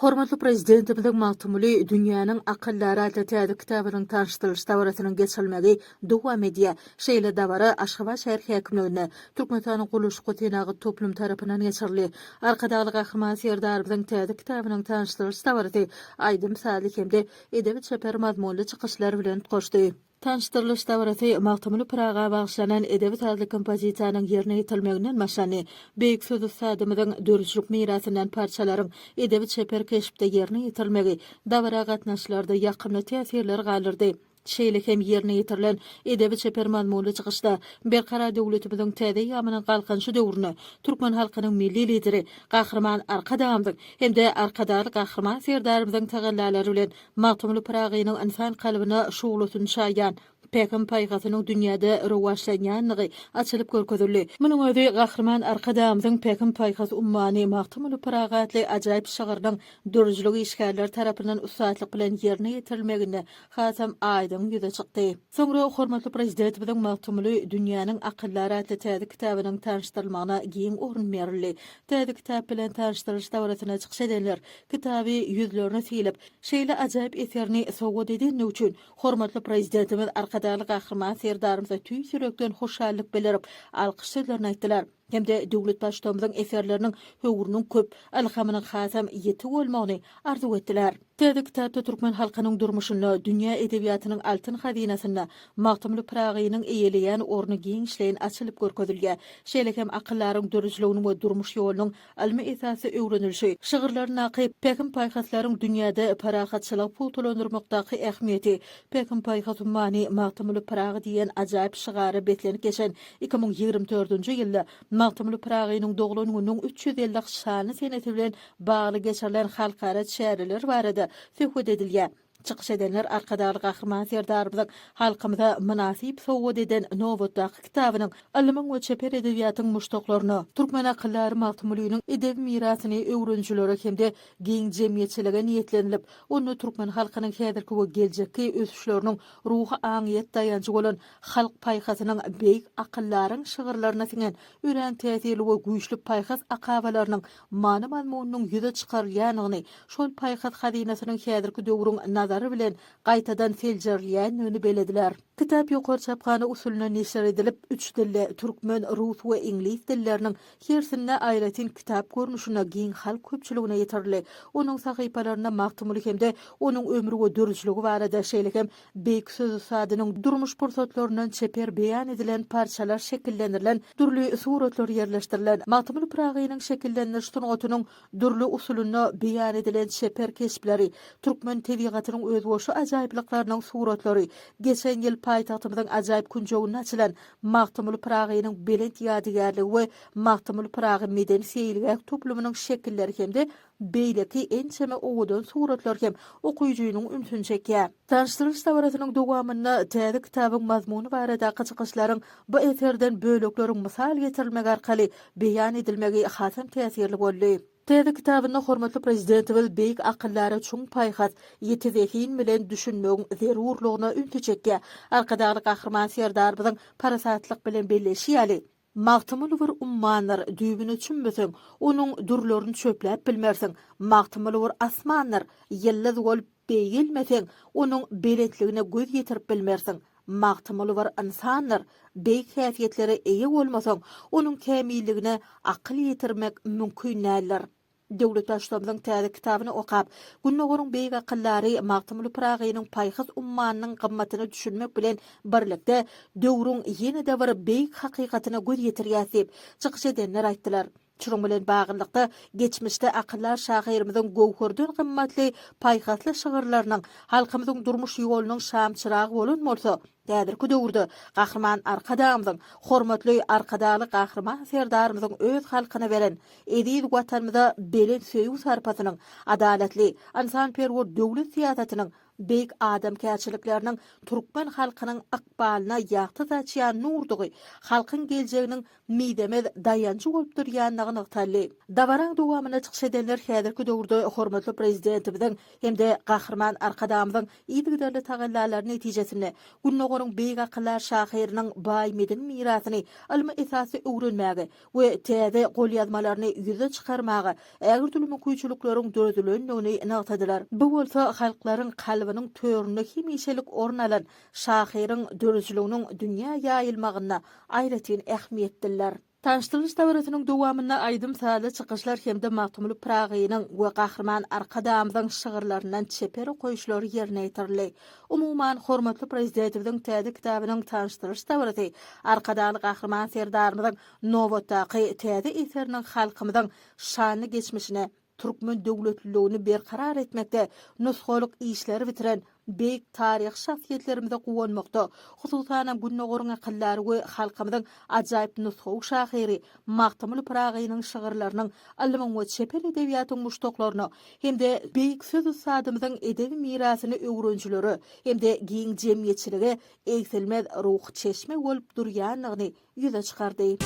Hormatly Prezidentimiziň Magtymguly, dünýäniň akyldary atly täze kitabynyň tanyşdyrylyş dabarasynyň geçirilmegi dowam edýär. Şeýle dabara Aşgabat şäher häkimliginde Türkmenistanyň Gurluşyk-we-senagat toplumy tarapyndan geçirildi. Arkadagly Gahryman Serdarymyzyň täze kitabynyň tanyşdyrylyş dabarasy aýdym-sazly hem-de edebi-çeper mazmunly çykyşlar bilen utgaşdy. Tanyşdyrylyş dabarasy Magtymguly Pyraga bagyşlanan edebi-sazly kompozisiýanyň ýerine ýetirilmeginden başlandy. Beýik söz ussadymyzyň döredijilik mirasyndan parçalaryň edebi-çeper keşpde ýerine ýetirilmegi dabara gatnaşyjylarda ýakymly täsirler galdyrdy. Şeýle hem ýerine ýetirilen edebi-çeper mazmunly çykyşda Berkarar döwletimiziň täze eýýamynyň Galkynyşy döwründe türkmen halkynyň Milli Lideri Gahryman Arkadagymyzyň hem-de Arkadagly Gahryman Serdarymyzyň tagallalary bilen Magtymguly Pyragynyň ynsan kalbyna şuglasyny çaýýan Pähim-paýhasynyň dünýäde rowaçlanýandygy açylyp görkezildi. Munuň özi Gahryman Arkadagymyzyň Pähim-paýhas ummany Magtymguly Pyragy atly ajaýyp şygrynyň dörüjilik işgärleri tarapyndan ussatlyk bilen ýerine ýetirilmeginde hasam aýdyň ýüze çykdy. Soňra hormatly Prezidentimiziň Magtymguly, dünýäniň akyldary atly täze kitabynyň tanyşdyrylmagyna giň orun berildi. Täze kitap bilen tanyşdyrylyş dabarasyna çykyş edenler Kitaby ýüzlerine sylyp, şeýle ajaýyp eserini sowgat edeni üçin hormatly Prezidentimiz Arkadagly Gahryman Serdarymyza tüýs ýürekden hoşallyk bildirip, alkyş sözlerini aýtdylar hem-de döwlet Baştutamyzyň eserleriniň höwrüniň köp, ylhamynyň hasam ýiti bolmagyny arzuw etdiler. Täze kitapda türkmen halkynyň durmuşynda, dünýä edebiýatynyň altyn hazynasynda Magtymguly Pyragynyň eýeleýän orny giňişleýin açylyp görkezilýär. Şeýle hem akyldaryň döredijiliginiň we durmuş ýolunyň Almy esasy öwrenilişi, şygyrlaryndaky pähim-paýhaslaryň dünýäde parahatçylygy pugtalandyrmakdaky ähmiýeti, Pähim-paýhas ummany, Magtymguly Pyragy diýen ajaýyp şygara beslenip geçen iki müň ýigrimi dördünji ýylda Magtymguly Pyragynyň doglan gününiň üç ýüz elli şanly senesi bilen bagly geçirilen halkara çäreler barada söhbet edilýär. Çykyş edenler Arkadagly Gahryman Serdarymyzyň halkymyza mynasyp sowgat eden nobatdaky kitabynyň ylmyň we çeper edebiýatyň muşdaklaryna, türkmen akyldary Magtymgulynyň edebi mirasyny öwrenijilere hem-de giň jemgyýetçilige niýetlenilip, onda türkmen halkynyň häzirki we geljekki ösüşleriniň ruhy-aňyýet daýanjy bolan halk paýhasynyň beýik akyldaryň şygyrlaryna siňen örän täsirli we güýçli paýhas akabalarynyň many-mazmunynyň ýüze çykarylýanyny, şol paýhas hazynasynyň häzirki döwrüň nazary bilen gaýtadan seljerilýändigini belediler. Kitap ýokary çaphana usulynda neşir edilip, üç dilde, türkmen, rus we iňlis dilleriniň hersinde aýratyn kitap görnüşinde giň halk köpçüligine ýetirildi. Onuň sahypalarynda Magtymguly hem-de onuň ömri we döredijiligi barada, şeýle hem Beýik söz ussadynyň durmuş pursatlaryndan çeper beýan edilen parçalar şekillendirilen dürli suratlar ýerleşdirilen Magtymguly Pyragynyň şekillendiriş sungatynyň dürli usulynda beýan edilen çeper keşpleri, türkmen tebigatynyň özboşa ajaýyplyklarynyň suratlary, geçen ýyl paýtagtymyzyň ajaýyp künjeginde açylan Magtymguly Pyragynyň belent ýadygärligi we Magtymguly Pyragy medeni-seýilgäh toplumynyň şekilleri hem-de Beýleki ençeme owadan suratlar hem okyjynyň ünsüni çekýär. Tanyşdyryş dabarasynyň dowamynda täze kitabyň mazmuny baradaky çykyşlaryň bu eserden bölekleriň mysal getirilmegi arkaly beýan edilmegi hasam täsirli boldy. Täze kitabynda hormatly Prezidentimiz beýik akyldara çuň paýhas, ýiti zehin bilen düşünmegiň zerurlygyna ünsi çekýär. Arkadagly Gahryman Serdarymyzyň parasatlyk bilen belleýşi ýaly, Magtymguly bir ummandyr, düýbüne çümmeseň, onuň dürlerini çöpläp bilmersiň. Magtymguly bir asmandyr, ýyldyz bolup beýgelmeseň, onuň belentligine göz ýetirip bilmersiň. Magtymguly bir ynsandyr, beýik häsiýetlere eýe bolmasaň, onuň kämilligine akyl ýetirmek mümkin däldir. Döwlet Baştutanymyzyň täze kitabyny okap, Gündogaryň beýik akyldary Magtymguly Pyragynyň paýhas ummanynyň gymmatyna düşünmek bilen birlikde, döwrüň ýene-de bir beýik hakykatyna göz ýetirýäs diýip, çykyş edenler aýtdylar. Şunuň bilen baglylykda, geçmişde akyldar şahyrymyzyň göwherden gymmatly paýhasly şygyrlarynyň halkymyzyň durmuş ýolunyň şamçyragy bolan bolsa, Häzirki döwürde Gahryman Arkadagymyzyň, hormatly Arkadagly Gahryman Serdarymyzyň öz halkyna beren, eziz Watanymyza belent söýgi-sarpasynyň, adalatly, ynsanperwer döwlet syýasatynyň, beýik adamkärçilikleriniň türkmen halkynyň ykbalyna ýagty saçýan nurdugy, halkyň geljeginiň mizemez daýanjy bolup durýandygy nygtaldy. Dabaraň dowamynda çykyş edenler häzirki döwürde hormatly Prezidentimiziň hem-de Gahryman Arkadagymyzyň yzygiderli tagallalary netijesinde Gündogaryň beýik akyldar şahyrynyň baý medeni mirasyny ylmy esasda öwrenmäge we täze golýazmalaryny ýüze çykarmaga ägirdüli mümkinçilikleriň döredilendigini nygtadylar. Bu bolsa halklaryň kalbynyň töründe hemişelik orun alan şahyryň döredijiliginiň dünýä ýaýylmagynda aýratyn ähmiýetliler. Tanyşdyryş dabarasynyň dowamynda aýdym-sazly çykyşlar hem-de Magtymguly Pyragynyň we Gahryman Arkadagymyzyň şygyrlaryndan çeper okaýyşlar ýerine ýetirildi. Umuman, hormatly Prezidetimiziň täze kitabynyň tanyşdyryş dabarasy Arkadagly Gahryman Serdarymyzyň nobatdaky täze eseriniň halkymyzyň şanly geçmişine, türkmen döwletliligini berkarar etmekde nusgalyk işleri bitiren beýik taryhy şahsyýetlerimize guwanmakda, hususanam Gündogaryň akyldary we halkymyzyň ajaýyp nusgawy şahyry Magtymguly Pyragynyň şygyrlarynyň ylmyň we çeper edebiýatyň muşdaklaryna hem-de beýik söz ussadymyzyň edebi mirasyny öwrenijilere hem-de giň jemgyýetçilige egsilmez ruhy çeşme bolup durýandygyny ýüze çykardy.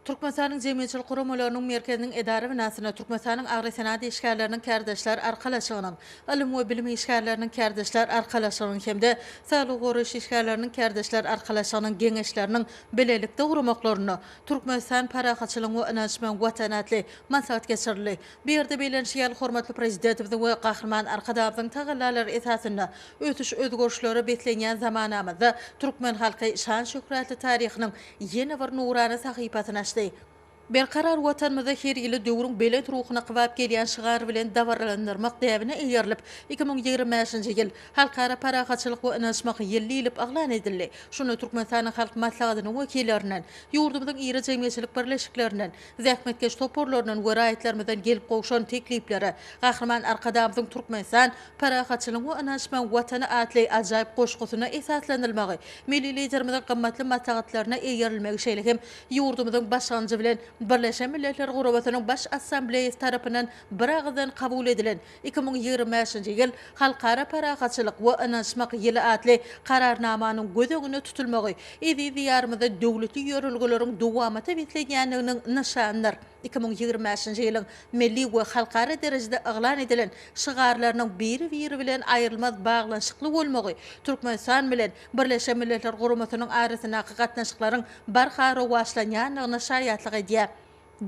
Türkmenistanyň Jemgyýetçilik guramalarynyň merkeziniň edara binasynda Türkmenistanyň Agrosenagat işgärleriniň kärdeşler arkalaşygynyň, Ylym we bilim işgärleriniň kärdeşler arkalaşygynyň hem-de Saglygy goraýyş işgärleriniň kärdeşler arkalaşygynyň Geňeşleriniň bilelikde guramaklarynda Türkmenistan parahatçylygyň we ynanç bilen Watan atly maslahat geçirildi. Bu ýerde bellenişi ýaly, hormatly Prezidetimiziň we Gahryman Arkadagymyzyň tagallalary esasynda ösüş-özgerişlere beslenýän zamanamyzda türkmen halky şan-şöhratly taryhynyň ýene bir nurana sahypasyny açdy. Berkarar Watanymyzda her ýyly döwrüň belent ruhuna kybap gelýän şygar bilen dabaralandyrmak däbine eýerilip, iki müň ýigrimi bäşinji ýyl Halkara parahatçylyk we ynanyşmak ýyly diýlip yglan edildi. Şunda Türkmenistanyň Halk Maslahatynyň wekillerinden, ýurdumyzyň iri jemgyýetçilik birleşiklerinden, zähmetkeş toparlaryndan we raýatlarymyzdan gelip gowşan teklipleri, Gahryman Arkadagymyzyň Türkmenistan, parahatçylygyň we ynanyşmagyň Watany atly ajaýyp goşgusyna esaslanylmagy, Milli Liderimiziň gymmatly maslahatlaryna eýerilmegi şeýle hem ýurdumyzyň başlangyjy bilen Birleşen Milletler Gurabasynyň Baş Assambleýasy tarapyndan biragyzdan kabul edilen Iki müň ýigrimi bäşinji ýyl Halkara parahatçylyk we ynanyşmak ýyly atly Kararnamanyň göz öňünde tutulmagy eziz Diýarymyzda döwletli ýörelgeleriň dowamaty beslenýändiginiň nyşanydyr. Iki müň ýigrimi bäşinji ýylyň milli we halkara derejede yglan edilen şygarlarynyň biri-biri bilen aýrylmaz baglanyşykly bolmagy Türkmenistan bilen Birleşen Milletler Guramasynyň arasyndaky gatnaşyklaryň barha rowaçlanýandygyna şaýatlyk edýär.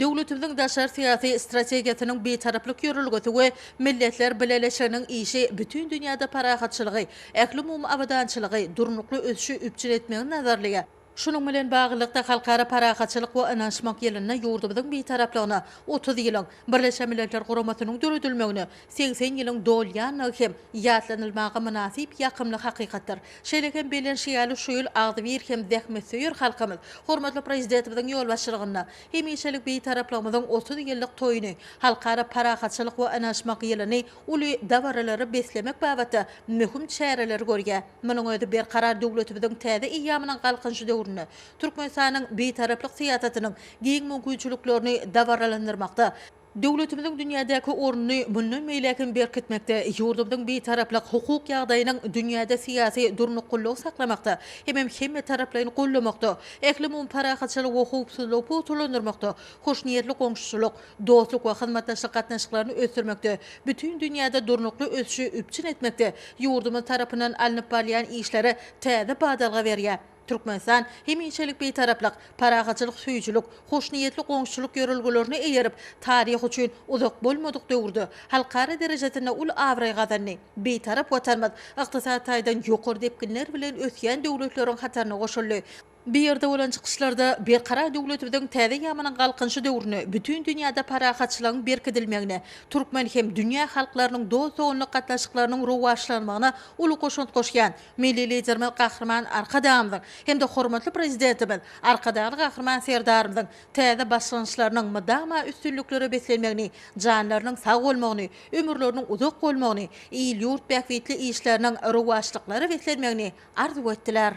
Döwletimiziň daşary syýasy strategiýasynyň Bitaraplyk ýörelgesi we Milletler Bileleşiginiň işi bütin dünýäde parahatçylygy, ählumumy abadançylygy, durnukly ösüşi üpjün etmegi nazarlaýar. Şunuň bilen baglylykda, Halkara parahatçylyk we ynanyşmak ýylynda ýurdumyzyň Bitaraplygyna otuz ýylyň, Birleşen Milletler Guramasynyň döredilmegine, Segsen ýylyň dolýanlygy hem ýatlanylmaga mynasyp ýakymly hakykatdyr. Şeýle hem bellenişi ýaly, şu ýyl agzybir hem zähmetsöýer halkymyz hormatly Prezidentimiziň ýolbaşçylygynda hemişelik Bitaraplygymyzyň otuz ýyllyk toýuny, Halkara parahatçylyk we ynaşmak ýylyny uly dabaralara beslemek babatda möhüm çäreleri görýär. Munuň özi Berkarar döwletimiziň täze eýýamynyň Galkynyşy döwründe Türkmenistanyň Bitaraplyk syýasatynyň giň mümkinçiliklerini dabaralandyrmakda, Döwletimiziň dünýädäki ornuny mundan beýläk hem berkitmekde, ýurdumyzyň Bitaraplyk hukuk ýagdaýynyň dünýäde syýasy durnukgullygy saklamakda hemem hemmetaraplaýyn goldamakda, ählumumy parahatçylygy we howpsuzlygy pugtalandyrmakda, hoşniýetli goňşuçylyk, dostluk we hyzmatdaşlyk gatnaşyklaryny ösdürmekde, bütin dünýäde durnukly ösüşi üpjün etmekde ýurdumyz tarapyndan alnyp barylýan işleri täze badalga berýär. Türkmenistan hemişelik Bitaraplyk, parahatçylyk söýüjilik, hoşniýetli goňşuçylyk ýörelgelerine eýerip, taryh üçin uzak bolmadyk döwürde halkara derejesinde uly abraý gazandy. Bitarap Watanymyz ykdysady taýdan ýokary depginler bilen ösýän döwletleriň hataryna goşuldy. Bu ýerde bolan çykyşlarda Berkarar döwletimiziň täze ýaman galkynyşy döwründe bütin dünýäde parahatçylygyň berkidilmegine, türkmen hem dünýä halklarynyň dost-doganlyk gatnaşyklarynyň rowaçlanmagyna uly goşant goşýan, Milli Liderimiz Gahryman Arkadagymyzyň hem-de hormatly Prezidentimiz Arkadagly Gahryman Serdarymyzyň täze başlangyçlarynyň mydama üstünliklere beslenmegini, janlarynyň sag bolmagyny, ömürleriniň uzak bolmagyny, il-ýurt bähbitli işleriniň rowaçlyklara beslenmegini arzuw etdiler.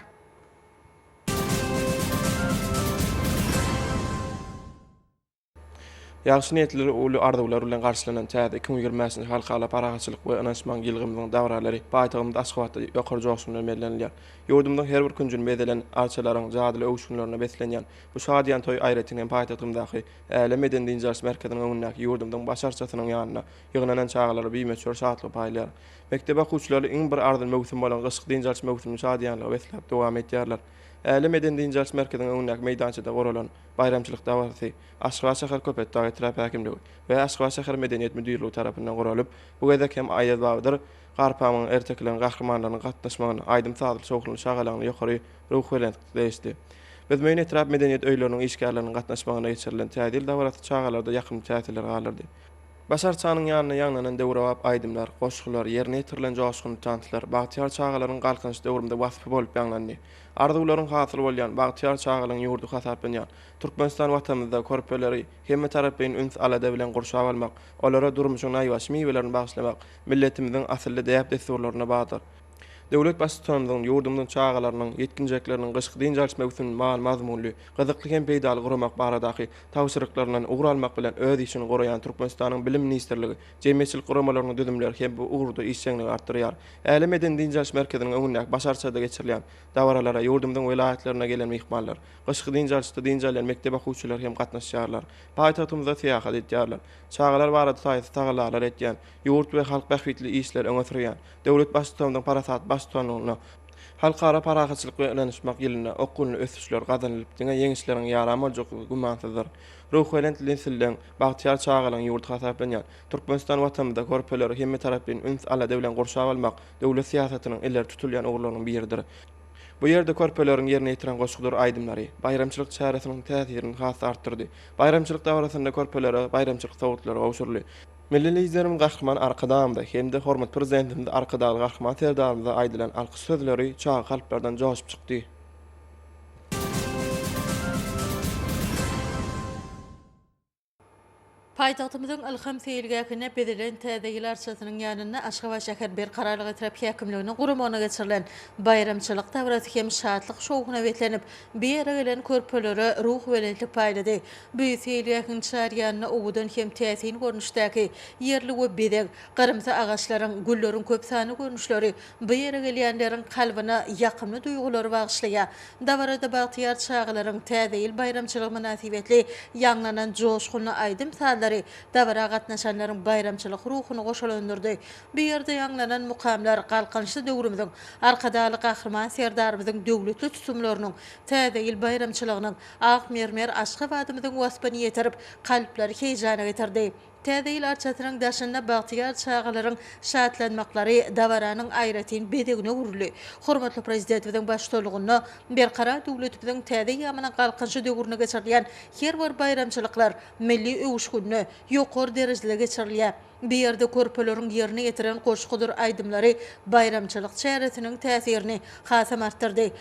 Ýagşy niýetleri, uly arzuwlar bilen garşylanan täze iki müň ýigrimi bäşinji Halkara parahatçylyk we ynanyşmagyň ýylgymyzyň dabaralary paýtagymyz Aşgabatda ýokary joşgun bilen bellenilýär. Ýurdumyzyň her bir künjüni bezelen arçalaryň jadyly öwüşginlerine beslenýän bu şadyýan toý aýratyn hem paýtagtymyzdaky Älem medeni-dynç-alyş merkeziniň öňündäki ýurdumyzyň baş arçasynyň ýanynda ýygnanan çagalara bimöçber şatlygy paýlaýar. Mekdep okuwçylary iň bir arzyly möwsüm bolan gyşky dynç-alyş möwsümini şadyýanlyga besläp dowam edýärler. Älem medeni-dynç-alyş merkeziniň öňündäki meýdançada guralan Baýramçylyk dabarasy Aşgabat şäher Köpetdag etrap häkimligi we Aşgabat şäher Medeniýet müdirligi tarapyndan guralyp, bu gezek hem Aýaz Babadyr Garpamyň ertekilerini gatnaşmanlarynyň gatnaşmagynda aýdym-sazly şowhunly şagalaňly ýokary ruhubelentlikde degişdi. Büzmeýin etrap medeniýet öýleriniň işgärleriniň gatnaşmagynda geçirilen Täze ýyl dabarasy çagalarda ýakymly täsirler galdyrdy. Baş arçanyň ýanynda ýaňlanan döwrebap aýdymlar, goşgular, ýerine ýetirilen joşgunly tanslar bagtyýar çagalaryň Galkynyş döwrümde waspy bolup ýaňlandy. Arzuwlaryň hasyl bolýan bagtyýar çagalygyň ýurdy hasaplanýan Türkmenistan Watanymyzda körpeleri hemmetaraplaýyn üns-alada bilen gurşap almak, olara durmuşyň naýbaşy miwelerini bagyşlamak milletimiziň asylly däp-dessurlaryna bardyr. Döwlet Baştutanymyzyň ýurdumyzyň çagalarynyň, ýetginjekleriniň gyşky dynç alyş möwsümini many-mazmunly, gyzykly hem peýdaly guramak baradaky tabşyryklaryndan ugur almak bilen öz işini guraýan Türkmenistanyň Bilim ministrligi jemgyýetçilik guramalarynyň düzümleri hem bu ugurda işjeňligi artdyrýar. Äle medeni-dynç alyş merkeziniň öňündäki baş arçada geçirilýän dabaralara ýurdumyzyň welaýatlaryndan gelen myhmanlar, gyşky dynç alyşda dynç alýan mekdep okuwçylary hem gatnaşýarlar. Paýtagtymyzda syýahat edýärler. Çagalar barada taýsyz tagallalar etýän, ýurt we halk bähbitli işleri öňe sürýän döwlet Baştutanymyzyň parasatly baştutanlygynda, Halkara parahatçylyk we ynanyşmak ýylynda okgunly ösüşler gazanylyp, diňe ýeňişleriň ýaran boljaklygy gümansyzdyr. Ruhubelent nesilleň, bagtyýar çagalaryň ýurdy hasaplanýan Türkmenistan Watanymyzda körpeleri hemmetaraplaýyn üns-alada bilen gurşap almak döwlet syýasatynyň ileri tutulýan ugurlarynyň biridir. Bu ýerde körpeleriň ýerine ýetiren goşgudyr aýdymlary baýramçylyk çäresiniň täsirini has-da artdyrdy. Baýramçylyk dabarasynda körpelere baýramçylyk sowgatlary gowşuryldy. Milli Liderimiz Gahryman Arkadagymyza hem-de hormatly Prezidentimiz Arkadagly Gahryman Serdarymyza aýdylan alkyş sözleri çaga kalplardan joşup çykdy. Paýtagtymyzyň Ylham seýilgähinde bezelen Täze ýyl arçasynyň ýanynda Aşgabat şäher Berkararlyk etrap häkimliginiň guramagynda geçirilen baýramçylyk dabarasy hem şatlyk-şowhuna beslenip, bu ýere gelen körpelere ruhubelentlik paýlady. Bu seýilgähiň çar ýanynda owadan hem täsin görnüşdäki ýerli we bezeg, gyrymsy agaçlaryň, gülleriň köp sanly görnüşleri Bu ýere gelýänleriň kalbyna ýakymly duýgulary bagyşlaýar. Dabarada bagtyýar çagalaryň Täze ýyl baýramçylygy mynasybetli ýaňlanan joşgunly aýdym-sazlary dabara gatnaşanlaryň baýramçylyk ruhuny goşalandyrdy. Bu ýerde ýaňlanan mukamlar Galkynyşly döwrümiziň Arkadagly Gahryman Serdarymyzyň döwletli tutumlarynyň, Täze ýyl baýramçylygynyň ak mermer Aşgabadymyzyň waspyny ýetirip, kalplary heýjana getirdi. Täze ýyl arçasynyň daşynda bagtyýar çagalaryň şatlanmaklary dabaranyň aýratyn bezegine öwrüldi. Hormatly Prezidentimiziň baştutanlygynda Berkarar döwletimiziň täze eýýamynyň Galkynyşy döwründe geçirilýän her bir baýramçylyklar milli öwüşginde, ýokary derejede geçirilýär. Bu ýerde körpeleriň ýerine ýetiren goşgudyr aýdymlary baýramçylyk çäresiniň täsirini hasam artdyrdy.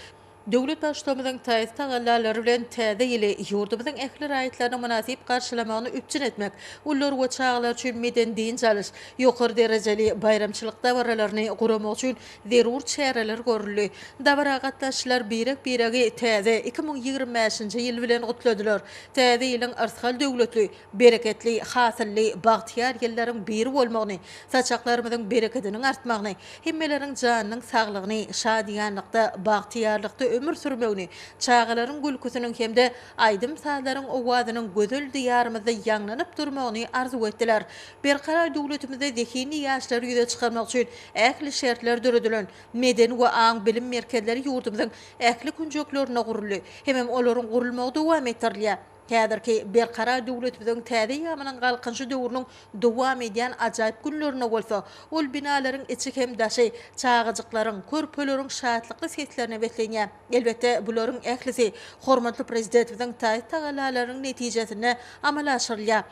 Döwlet Baştutanymyzyň taýsyz tagallalary bilen Täze ýyly ýurdumyzyň ähli raýatlarynyň mynasyp garşylamagyny üpjün etmek, ulylar we çagalar üçin medeni-dynç alyş, ýokary derejeli baýramçylyk dabaralaryny guramak üçin zerur çäreler görüldi. Dabara gatnaşyjylar birek-biregi täze iki müň ýigrimi bäşinji ýyl bilen gutladylar. Täze ýylyň yrsgal döwletli, bereketli, hasylly, bagtyýar ýyllaryň biri bolmagyny, saçaklarymyzyň berekediniň artmagyny, hemmeleriň janynyň saglygyny, şadyýanlykda, bagtyýarlykda ömür sürmegini, çagalaryň gülküsiniň hem-de aýdym-sazlaryň owazynyň gözel Diýarymyzda ýaňlanyp durmagyny arzuw etdiler. Berkarar döwletimizde zehinli ýaşlary ýüze çykarmak üçin ähli şertler döredilen medeni we aň-bilim merkezleri ýurdumyzyň ähli künjeklerinde guruldy hemem olaryň gurulmagy dowam etdirilýär. Häzirki Berkarar döwletimiziň täze ýamynyň Galkynyşy döwrüniň dowam edýän ajaýyp günlerinde bolsa, ol binalaryň içi hem daşy çagajyklaryň, körpeleriň şatlykly seslerine beslenýär. Elbetde, bularyň ählisi hormatly Prezidentimiziň taýsyt-tagallalarynyň netijesinde amala aşyrylýar.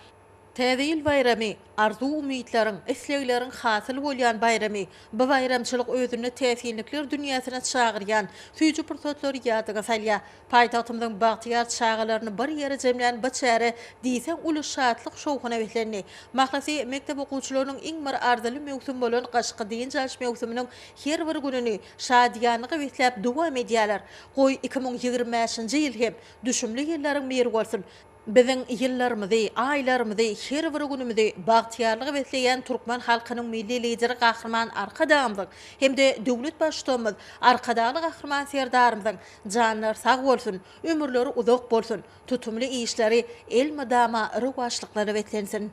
Täze ýyl baýramy, arzuw-umytlaryň, islegleriň hasyl bolýan baýramy. Bu baýramçylyk özünde täsinlikler dünýäsine çagyrýan süýji pursatlary ýadyňa salýar. Paýtagtymyzyň bagtyýar çagalaryny bir ýere jemlän bu çäre diýseň uly şatlyk-şowhuna beslendi. Mahlasy, mekdep okuwçylarynyň iň bir arzyly möwsüm bolan gyşky dynç alyş möwsüminiň her bir gününi şadyýanlyga besläp dowam edýärler. Goý, iki müň ýigrimi bäşinji ýyl hem düşümli ýyllaryň biri bolsun! Biziň ýyllarymyzy, aýlarymyzy, her bir günümizi bagtyýarlyga besleýän türkmen halkynyň Milli Lideri Gahryman Arkadagymyzyň hem-de döwlet Baştutanymyz Arkadagly Gahryman Serdarymyzyň janlary sag bolsun, ömürleri uzak bolsun, tutumly işleri elmydama rowaçlyklara beslensin!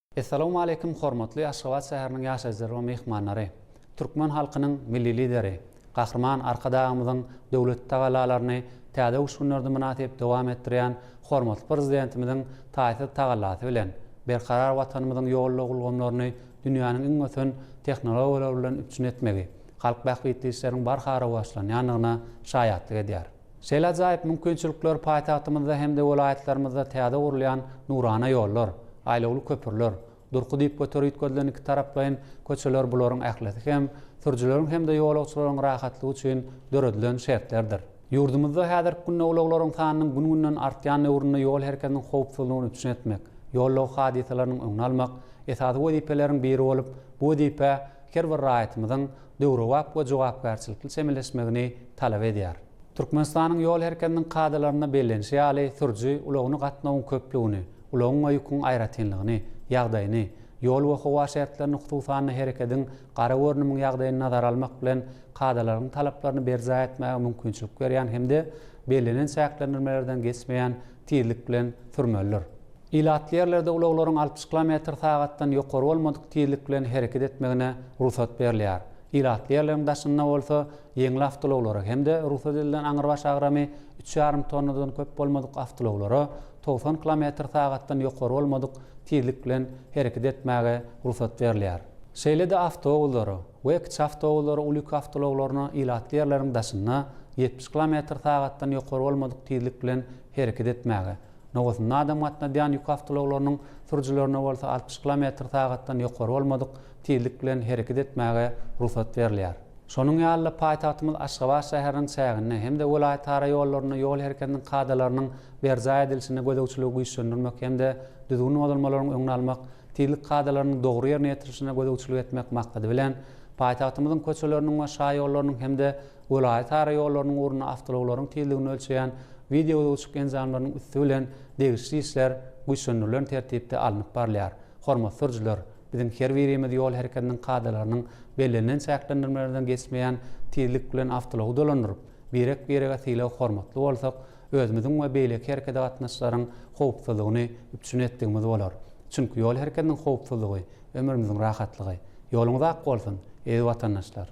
Essalawmaleýkim hormatly Aşgabat şäheriniň ýaşaýjylary we myhmanlary! Türkmen halkynyň Milli Lideri, Gahryman Arkadagymyzyň döwletli tagallalaryny Täze öwüşginlerde mynasyp dowam etdirýän hormatly Prezidentimiziň taýsyz tagallasy bilen, berkarar Watanymyzyň ýol-ulag ulgamlaryny dünýäniň iň ösen tehnologiýalary bilen üpjün etmegi halk bähbitli işleriň barha rowaçlanýandygyna şaýatlyk edýär. Şeýle ajaýyp mümkinçilikler paýtagtymyzda hem-de welaýatlarymyzda täze gurulýan nurana ýollar, aýlawly köprüler, durky diýip göter üýtgedilen iki taraplaýyn köçeler bularyň ählisi hem sürüjileriň hem-de ýolagçylaryň rahatlygy üçin döredilen şertlerdir. Ýurdumyzda häzirki günde ulaglaryň sanynyň gün-günden artýan döwründe ýol hereketiniň howpsuzlygyny üpjün etmek, ýol-lag hadysalarynyň öňüni almak esasy wezipeleriň biri bolup, bu wezipe her bir raýatymyzyň döwrebap we jogapkärçilikli çemeleşmegini talap edýär. Türkmenistanyň ýol herkediniň kadalarynda bellenişi ýaly, sürüji ulagyny gatnawyň köplügini, ulagyň we ýüküň aýratynlygyny, ýagdaýyny, ýol we howa şertlerini hususan-da herekediň gara görnümiň ýagdaýyny nazara almak bilen kadalaryň talaplaryny berjaý etmäge mümkinçilik berýän hem-de bellenen çäklendirmelerden geçmeýän tizlik bilen sürmelidir. Ilatly ýerlerde ulaglaryň altmyş kilometr sagatdan ýokary bolmadyk tizlik bilen hereket etmegine rugsat berilýär. Ilatly ýerleriň daşynda bolsa ýeňil awtoulaglara hem-de rugsat edilen aňrybaş agramy üç ýarym tonnadan köp bolmadyk awtoulaglara togsan kilometr sagatdan ýokary bolmadyk tizlik bilen hereket etmäge rugsat berilýär. Şeýle-de awtoulaglara, Wekçi awtoulary uly ýük awtoulaglaryna ilatly ýerleriň daşynda ýetmiş kilometr sagatdan ýokary bolmadyk tizlik bilen hereket etmäge, nowasynda adam gatnadýan ýük awtoulaglarynyň sürüjilerine bolsa altmyş kilometr sagatdan ýokary bolmadyk tizlik bilen hereket etmäge rugsat berilýär. Şonuň ýaly-da paýtagtymyz Aşgabat şäheriniň çäginde hem-de welaýatara ýollarynda ýol hereketiniň kadalarynyň berjaý edilişine gözegçiligi güýçlendirmek hem-de düzgün bozulmalaryň öňüni almak tizlik kadalarynyň dogry ýerine ýetirilişine gözegçilik etmek maksady bilen, paýtagtymyzyň köçeleriniň we şaýollarynyň hem-de welaýatara ýollarynyň ugrunda awtoulaglaryň tizligini ölçeýän wideogözegçilik enjamlarynyň üsti bilen degişli işler güýçlendirilen tertipde alnyp barylýar. Hormatly sürüjiler, biziň her birimiz ýol hereketiniň kadalarynyň bellenilen çäklendirmelerden geçmeýän tizlik bilen awtoulagy dolandyryp, birek-birege sylag-hormatly bolsak, özümiziň we beýleki hereket gatnaşlaryň howpsuzlygyny üpjün etdigimiz bolar. Çünki ýol herkediniň howpsuzlygy, ömrümiziň rahatlygy. Ýoluňyz ak bolsun, eziz watandaşlar!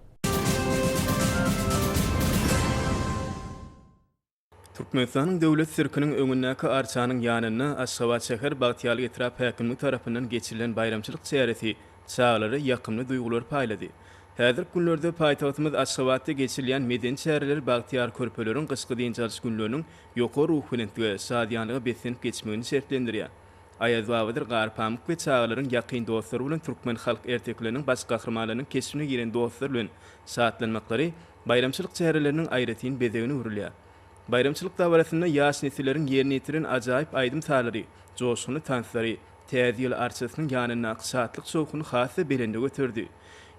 Türkmenistanyň Döwlet sirkiniň öňündäki arçanyň ýanynda Aşgabat şäher Bagtyýarly etrap häkimligi tarapyndan geçirilen baýramçylyk çäresi çagalara ýakymly duýgulary paýlady. Häzirki günlerde paýtagtymyz Aşgabatda geçirilýän medeni çäreler bagtyýar körpeleriň gyşky dynç alyş günleriniň ýokary ruhubelentlige, şadyýanlyga beslenip geçmegini şertlendirýär. Aýazbabadyr Garpamyk we çagalaryň ýakyn dostlary bolan türkmen halk ertekileriniň baş gahrymanlarynyň keşbine giren dostlar bilen şatlanmaklary baýramçylyk çäreleriniň aýratyn bezegine öwrülýär. Baýramçylyk dabarasynda ýaş nesilleriň ýerine ýetiren ajaýyp aýdym-sazlary, joşgunly tanslary, Täze ýyl arçasynyň ýanyndaky şatlyk şowhuny has-da belende göterdi.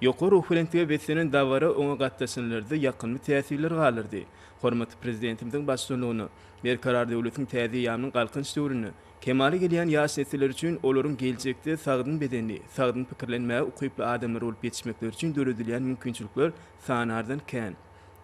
Ýokary ruhubelentlige beslenen dabara oňa gatnaşanlarda ýakymly täsirler galdyrdy. Hormatly Prezidentimiziň baştutanlygynda Berkarar döwletiň täze eýýamynyň Galkynyş döwründe kemala gelýän ýaş nesiller üçin olaryň geljekde sagdyn bedenli, sagdyn pikirlenmäge ukyply adamlar bolup ýetişmekleri üçin döredilýän mümkinçilikler sanardan kän.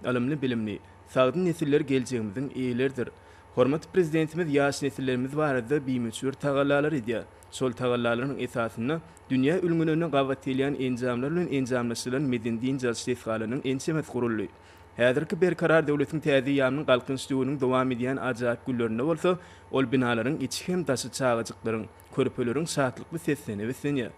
Ylymly-bilimli, sagdyn nesiller geljegimiziň eýeleridir. Hormatly Prezidentimiz ýaş nesillerimiz barada bimöçber tagallalar edýär. Şol tagallalaryň esasynda dünýä ülňülerine gabat gelýän enjamlar bilen enjamlaşdyrylan medeni-dynç alyş desgalarynyň ençemesi guruldy. Häzirki Berkarar döwletiň täze ýarynyň Galkynyş döwrüniň dowam edýän ajaýyp günlerinde bolsa ol binalaryň içi hem daşy çagajyklaryň, körpeleriň şatlykly seslerine beslenýär.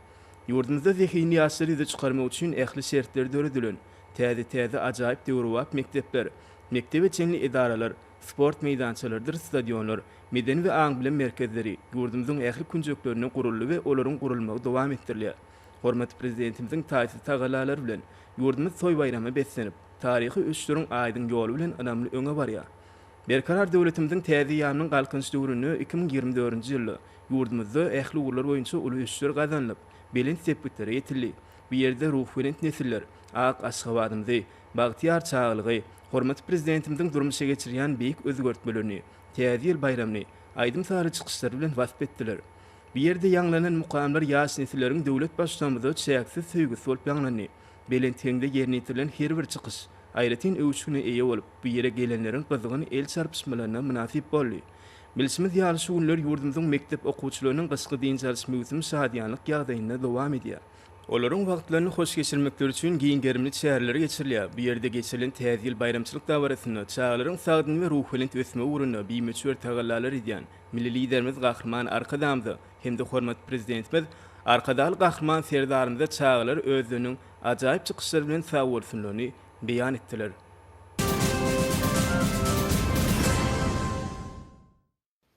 Ýurdumyzda zehinli ýaşlary ýüze çykarmak üçin ähli şertler döredilen, täze-täze ajaýyp döwrebap mekdepler, mekdebe çenli edaralar, Sport meýdançalarydyr stadionlar, medeni we aň-bilim merkezleri ýurdumyzyň ähli künjeklerinde guruldy we olaryň gurulmagy dowam etdirilýär. Hormatly Prezidentimiziň taýsyz tagallalary bilen, ýurdumyz toý-baýrama beslenip, taryhy ösüşleriň aýdyň ýoly bilen ynamly öňe barýar. Berkarar döwletimiziň täze ýarynyň Galkynyş döwründe iki müň ýigrimi dördünji ýylda ýurdumyzda ähli ugurlar boýunça uly ösüşler gazanylyp, belent sepgitlere ýetildi. Bu ýerde ruhubelent nesiller ak Aşgabadymyzy, Bagtyýar çagalygy, hormatly Prezidentimiziň durmuşa geçirýän beýik özgertmelerini, Täze ýyl baýramyny aýdym-sazly çykyşlary bilen wasp etdiler. Bu ýerde ýaňlanan mukamlar ýaş nesilleriň döwlet Baştutanymyza çäksiz söýgüsi bolup ýaňlandy. Belent heňde ýerine ýetirilen her bir çykyş aýratyn öwüşgine eýe bolup, bu ýere gelenleriň gyzgyn el çarpyşmalaryna mynasyp boldy. Bilşimiz ýaly, şu günler ýurdumyzyň mekdep okuwçylarynyň gyşky dynç alyş möwsümi şadyýanlyk ýagdaýynda dowam edýär. Olaryň wagtlaryny hoş geçirmekleri üçin giň gerimli çäreler geçirilýär. Bu ýerde geçirilen Täze ýyl baýramçylyk dabarasynda çagalaryň sagdyn we ruhubelent ösmegi ugrunda bimöçber tagallalar edýän Milli Liderimiz Gahryman Arkadagymyza hem-de hormatly Prezidentimiz Arkadagly Gahryman Serdarymyza çagalar özleriniň ajaýyp çykyşlary bilen sagbolsunlaryny beýan etdiler.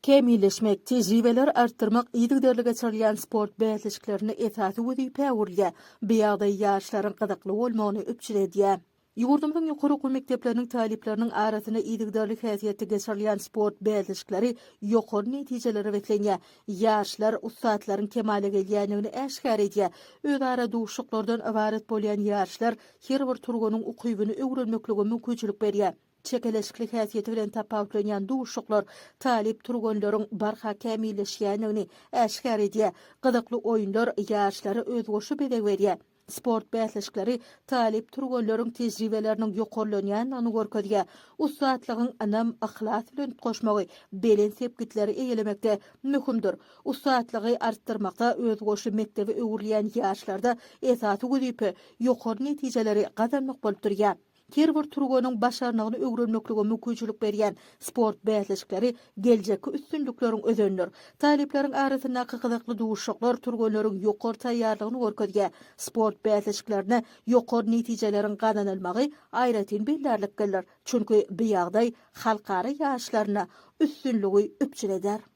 kämilleşmek, tejribeleri artdyrmak yzygiderli geçirilýän sport bäsleşiklerinde esasy wezipä öwrülýär, bu ýagdaý ýaşlaryň gyzykly bolmagyny üpjün edýär. Ýurdumyzyň ýokary okuw mekdepleriniň talyplarynyň arasynda yzygiderli häsiýetde geçirilýän sport bäsleşikleri ýokary netijelere beslenýär, ýaşlar ussatlaryň kemala gelýändigini äşgär edýär, özara duşuşyklardan ybarat bolýan ýaryşlar her bir turbanyň ukybyny öwrenmeklige mümkinçilik berýär. Çekeleşikli häsiýeti bilen tapawutlanýan duşuşyklar talyp türgenleriň barha kämilleşýändigini äşgär edýär. Gyzykly oýunlar ýaşlara özboşa bezeg berýär. Sport bäsleşikleri talyp türgenleriň tejribeleriniň ýokarlanýandygyny görkezýär. Ussatlygyň ynam, yhlas bilen utgaşmagy belent sepgitleri eýelemekde möhümdir. Ussatlygy artdyrmakda özboşy mekdebe öwrülýän ýaşlarda esasy wezipe ýokary netijeleri gazanmak bolup durýar. Her bir türgeniň başarnygyny öwrenmeklige mümkinçilik berýän sport bäsleşikleri geljekki üstünlikleriň özenidir. Talyplaryň arasyndaky gyzykly duşuşyklar türgenleriň ýokary taýýarlygyny görkezýär, sport bäsleşiklerinde ýokary netijeleriň gazanylmagy aýratyn bellärliklidir, çünki bu ýagdaý halkara ýaryşlarynda üstünligi üpjün eder.